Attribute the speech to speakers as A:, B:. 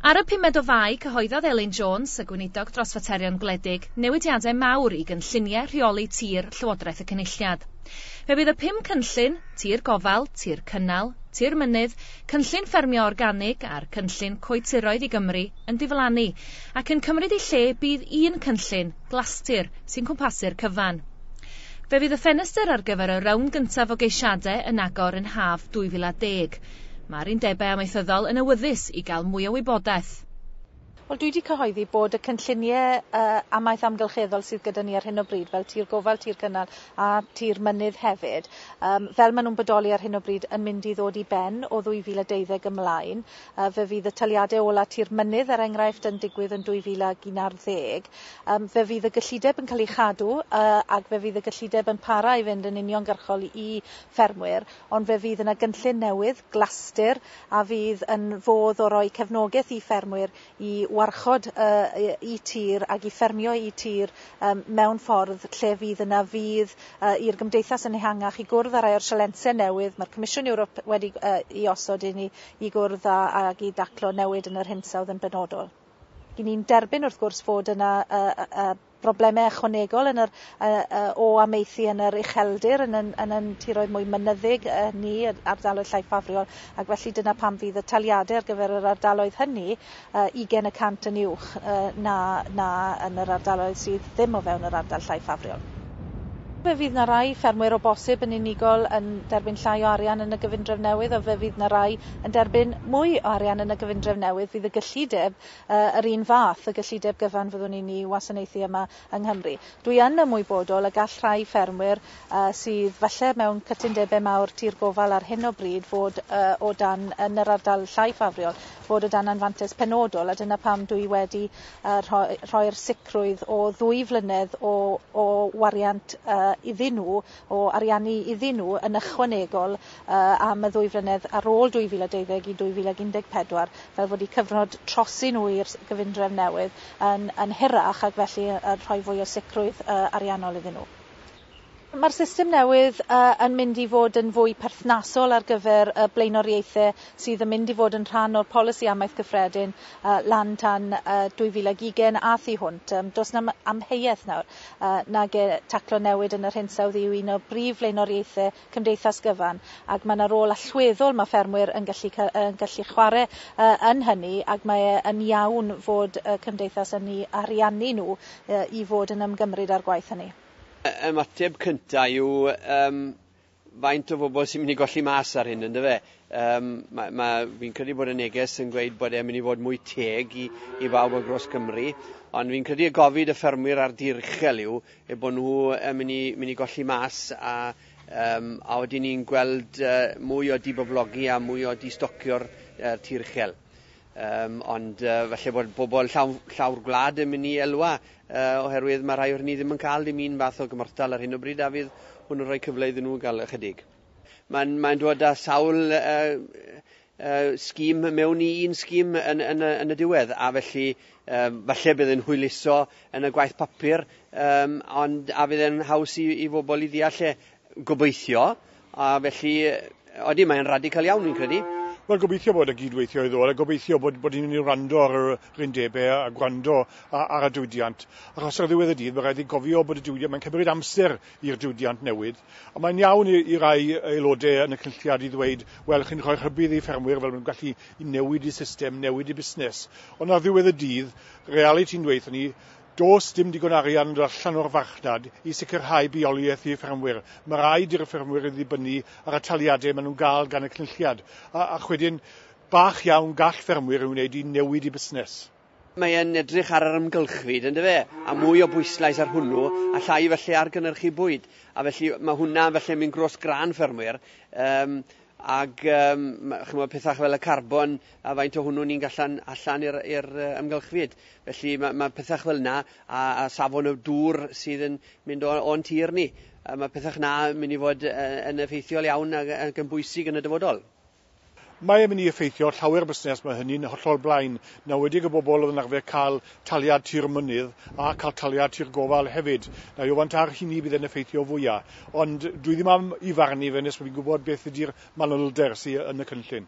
A: Ar y pumed o Fai, cyhoeddodd Elin Jones, y Gweinidog dros Faterion Gwledig, newidiadau mawr i gynlluniau rheoli tir Llywodraeth y Cynulliad. Fe fydd y pum cynllun, tir gofal, tir cynnal, tir mynydd, cynllun ffermio organig a'r cynllun coetiroedd i Gymru, yn diflannu, ac yn cymryd i lle bydd un cynllun, glastir, sy'n cwmpasu'r cyfan. Fe fydd y ffenestr ar gyfer y rownd gyntaf o geisiadau yn agor yn haf 2010. Mae'r Undebau Amaethyddol yn awyddus i gael mwy o wybodaeth. Wel, dwi
B: 'di cyhoeddi bod y cynllunie yy amaeth amgylcheddol sydd gyda ni ar hyn o bryd, fel tir gofal, tir cynnal a tir mynydd hefyd, yym fel ma' nw'n bodoli ar hyn o bryd, yn mynd i ddod i ben o 2012 ymlaen. Fe fydd y taliadau ola tir mynydd, er enghraifft, yn digwydd yn 2011. Fe fydd y gyllideb yn cael ei chadw ac fe fydd y gyllideb yn para i fynd yn uniongyrchol i ffermwyr, ond fe fydd yna gynllun newydd, Glastir, a fydd yn fodd o roi cefnogaeth i ffermwyr i warchod y tir ac i ffermio y tir mewn ffordd lle fydd yna fudd i'r gymdeithas yn ehangach i gwrdd â rhai o'r sialensau newydd mae'r Comisiwn Ewrop wedi i osod i ni i gwrdd â ac i daclo newid yn yr hinsawdd yn benodol. Ry'n ni'n derbyn wrth gwrs fod yna broblemau ychwanegol yn yr yy yy o amaethu yn yr ucheldir yn yn yn yn tiroedd mwy mynyddig yy ni yr ardaloedd llai ffafriol ac felly dyna pam fydd y taliadau ar gyfer yr ardaloedd hynny yy ugain y cant yn uwch yy na na yn yr ardaloedd sydd ddim o fewn yr ardal llai ffafriol. Fe fydd 'na rai ffermwyr o bosib yn unigol yn derbyn llai o arian yn y gyfundrefn newydd a fe fydd 'na rai yn derbyn mwy o arian yn y gyfundrefn newydd fydd y gyllideb yr un fath o gyllideb gyfan fyddwn ni'n ei wasanaethu yma yng Nghymru. Dwi yn ymwybodol y gall rhai ffermwyr sydd falle mewn cytundebau mawr tir gofal ar hyn o bryd fod o dan, yn yr ardal llai ffafriol, fod o dan anfantais penodol a dyna pam dw i wedi rhoi'r sicrwydd o ddwy flynedd o wariant iddyn nhw o ariannu iddyn nhw yn ychwanegol am y ddwy flynedd ar ôl 2020 i 2014 fel fod eu cyfnod trosi nhw i'r gyfundrefn newydd yn hirach ac felly yn rhoi fwy o sicrwydd ariannol iddyn nhw. Mae'r system newydd yn mynd i fod yn fwy perthnasol ar gyfer y blaenoriaethau sydd yn mynd i fod yn rhan o'r Polisi Amaeth Gyffredin lan tan 2020 a thu hwnt. Does 'na amheuaeth nawr. a nag e, taclo newid yn yr hinsawdd yw un o brif flaenoriaethau cymdeithas gyfan ac mae 'na rôl allweddol mae ffermwyr yn gallu yn gallu chwarae yn hynny ac mae e yn iawn fod y cymdeithas yn eu ariannu nhw i fod yn ymgymryd â'r gwaith hynny. Ymateb
C: cynta' yw yym faint o bobl sy'n mynd i golli mas ar hyn, ynddo fe? Um, mae, ma, fi'n credu bod y neges yn gweud bod e'n mynd i fod mwy teg i, i bawb o Gros Cymru, ond fi'n credu y gofid y ffermwyr ar dir uchel yw e bod nhw yn mynd i, mynd i golli mas a, um, a oedden ni'n gweld uh, mwy o diboblogi a mwy o distocio'r uh, tir uchel. Yym, ond yy falle bod pobol llawn- llawr gwlad yn myn' i elwa yy oherwydd ma' rhai o rheny ddim yn ca'l dim un fath o gymorthdal ar hyn o bryd a fydd hwnnw'n rhoi cyfle iddyn nhw ga'l ychydig. Ma'n mae'n dod â sawl yy yy scheme mewn i un scheme yn yn y yn y diwedd a felly yym falle bydd e'n hwyluso yn y gwaith papur yym ond a fydd e'n haws i i fobol i ddeall e Gobeithio, a felly, odi, mae'n radical iawn, fi'n credu. Wel, gobeithio bod y
D: gyd-weithio i ddod, a gobeithio bod, bod ni'n mynd i wrando ar yr yr undebau a, a gwrando a, ar y diwydiant. Achos ar ddiwedd y dydd, mae rhaid i gofio bod y diwydiant, mae'n cymryd amser i'r diwydiant newid. A mae'n iawn i, i rai aelodau yn y cynlliad i ddweud, wel, chi'n rhoi rhybudd i ffermwyr fel maen gallu i newid y system, newid y busnes. Ond ar ddiwedd y dydd, realiti'n dweud ni, Does dim digon arian yn yr allan o'r farchnad i sicrhau bioleiaeth i ffermwyr. Mae rhaid i'r ffermwyr ddibynnu ar y taliadau maen nhw'n gael gan y Cynulliad, a, a chwedyn, bach iawn gall ffermwyr ei wneud i newid eu busnes. Mae e'n
C: edrych ar yr amgylchfyd, yn dyfe, a mwy o bwyslais ar hwnnw, a llai felly ar gynyrchu bwyd. A felly, mae hwnna felly yn mynd grôs grân ffermwyr. Yym, Ac um, chymod, pethau fel y carbon a faint o hwnnw ni'n gallan allan i'r uh, ymgylchfyd. Felly mae, mae pethau fel yna a, a safon y dŵr sydd yn mynd o'n tir ni. A mae pethau yna yn mynd i fod uh, yn effeithiol iawn ac, ac yn bwysig yn y dyfodol. Mae'n
D: mynd i effeithio llawer busnes, mae hynny'n hollol blaen. Nawedig y bobl oedd yn arfer cael taliad tir mynydd a cael taliad tir gofal hefyd. Na i ofyn ta'r hynny bydd e'n effeithio fwya', ond dwi ddim am 'i farn i fe nes bod fi'n gwybod beth ydi'r manylder sy yn y cynllun.